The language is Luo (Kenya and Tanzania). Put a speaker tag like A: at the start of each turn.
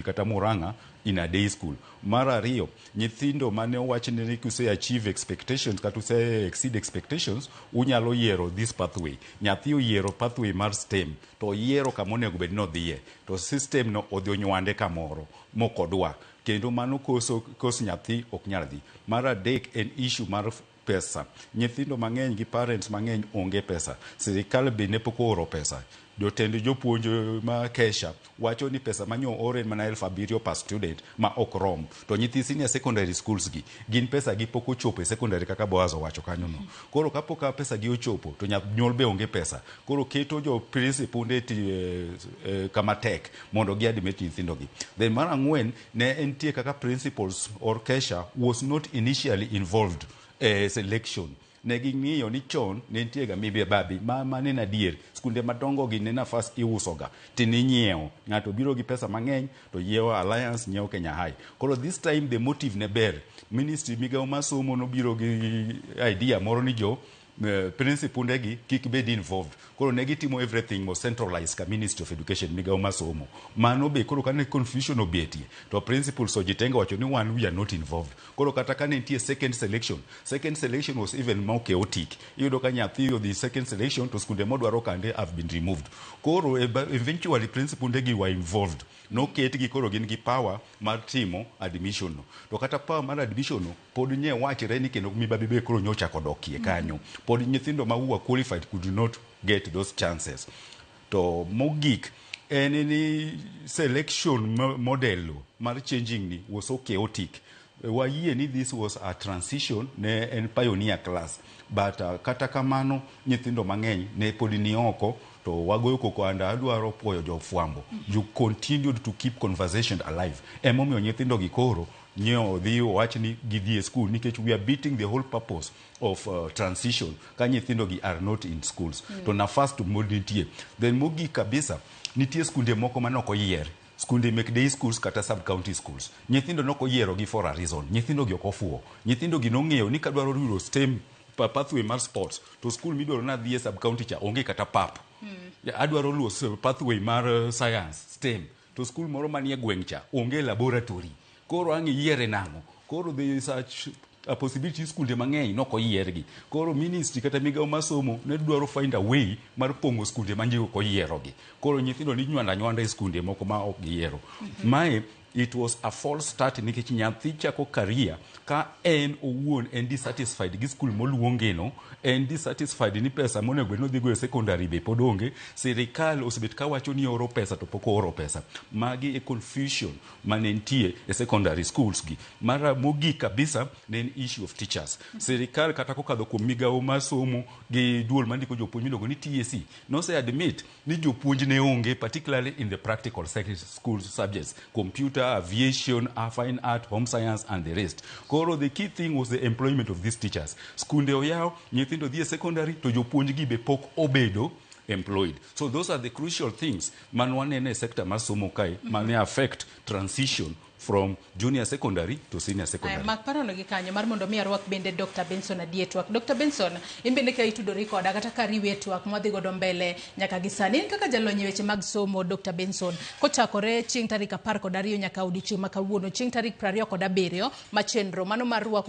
A: kata Murang'a in a day school. Mar ariyo, nyithindo mane owach ni kuse achieve expectations kata use exceed expectations, unyalo yiero this pathway. Nyathi oyiero pathway mar STEM to oyiero kama onego bed ni odhiye to system no odhi onywande kamoro mok odwa kendo mano koso kos nyathi ok nyal dhi. Mar adek en issue mar pesa. Nyithindo mang'eny gi parents mang'eny onge pesa. Sirikal be ne pok ooro pesa. Jotend jopuonj ma kesha wacho ni pesa manyo ore mana elfu abiriyo per student ma ok rom. To nyithi senior secondary schools gi gin pesa gi pok ochopo e secondary kaka Boaz owacho kanyo no. Koro ka pok pesa gi ochopo to nyanyuol be onge pesa. Koro keto jo principal nde e, e, kama tek mondo gi admit nyithindo gi. Then mar ang'wen ne entie kaka principals or Kesha was not initially involved e selection ne ging'iyo ni chon ne nitie ga mibi babi ma mane na adier skunde madongo gi ne nafas iuso ga ti ninyiewo ng'ato biro gi pesa mang'eny to yiewo alliance nyiewo Kenya High koro this time the motive ne ber ministry migawo masomo nobiro gi idea moro ni jo principunde gi kik bed involved koro ne gitimo everything mo centralize ka ministry of education migawo masomo mano be koro kane confusion obetie to principles ojitenge wacho ni wan we are not involved koro kata kane nitie second selection second selection was even more chaotic iyudo ka nyathi odhi second selection to skunde modwaro kande have been removed koro eventually principunde gi were involved noketgi koro gin gi power mar timo admission no to kata power mar admission no Pod nye wachre ni kendo mibadhi be koro nyocha kodokie kanyo. Pod nyithindo ma who are qualified could not get those chances. To mogik en ni selection mo- model mar changing ni was so chaotic. Wayie ni this was a transition ne en pioneer class but uh, kata kamano nyithindo mang'eny ne pod ni oko to wagoyo koko and adwaro puoyo jofwambo you continued to keep conversation alive emomiyo nyithindogi koro nyo odhi owach ni gidhi e school nikech we are beating the whole purpose of uh, transition ka nyithindo gi are not in schools mm. to nafas to mod nitie then mogik kabisa nitie skunde moko ma nok oyier skunde mek day schools kata sub county schools nyithindo nok oyiero gi for a reason nyithindo gi ok ofuwo nyithindo gi nong'eyo ni kadwaro yudo stem pathway mar sports to school midwaro nadhi e sub county cha onge kata pap mm. adwaro luwo pathway mar uh, science stem to skul moro manie gweng' cha onge laboratory koro ang' iyiere nang'o koro the such a possibility ni skunde mang'eny nok oyiergi koro ministry kata migawo mar somo ne dwaro find a way mar pong'o skunde ma ji ok oyierogi koro nyithindo ni nywanda nywanda e skunde moko ma ok giyiero mae it was a false start nikech nyathi chako career ka en owuon en dissatisfied gi skul moluongeno en dissatisfied ni pesa monego bed nodhigo e sekondari be pod onge sirikal osebet ka wacho ni oro pesa to pok ooro pesa magi e confusion mane nitie e secondary schools gi mara mogik kabisa ne en issue of teachers sirikal kata kokadho kuom migawo mar somo gi duol mandiko jopuonj miluongo ni TSC nose admit ni jopuonj ne onge particularly in the practical secondary school subjects computer aviation uh, fine art home science and the rest koro the key thing was the employment of these teachers skunde oyaw nyithindo dhi e secondary to jopuonj gi be pok obedo employed so those are the crucial things man wanene e sector mar somo kae mane affect transition from junior secondary to senior Aya, secondary. mak parono gi kanyo mar
B: mondo mi arwak bende Dr. Benson adie twak. Dr. Benson, in bende ka itudori koda kata ka riwi e twak mwadhi godo mbele nyaka gi sani. In kaka jalony e weche mag somo Dr. Benson, kochakore chieng' tarik apar kod ariyo nyaka odiechieng' ma kawuono chieng' tarik prariyo kod abiriyo ma chenro mano mar rwako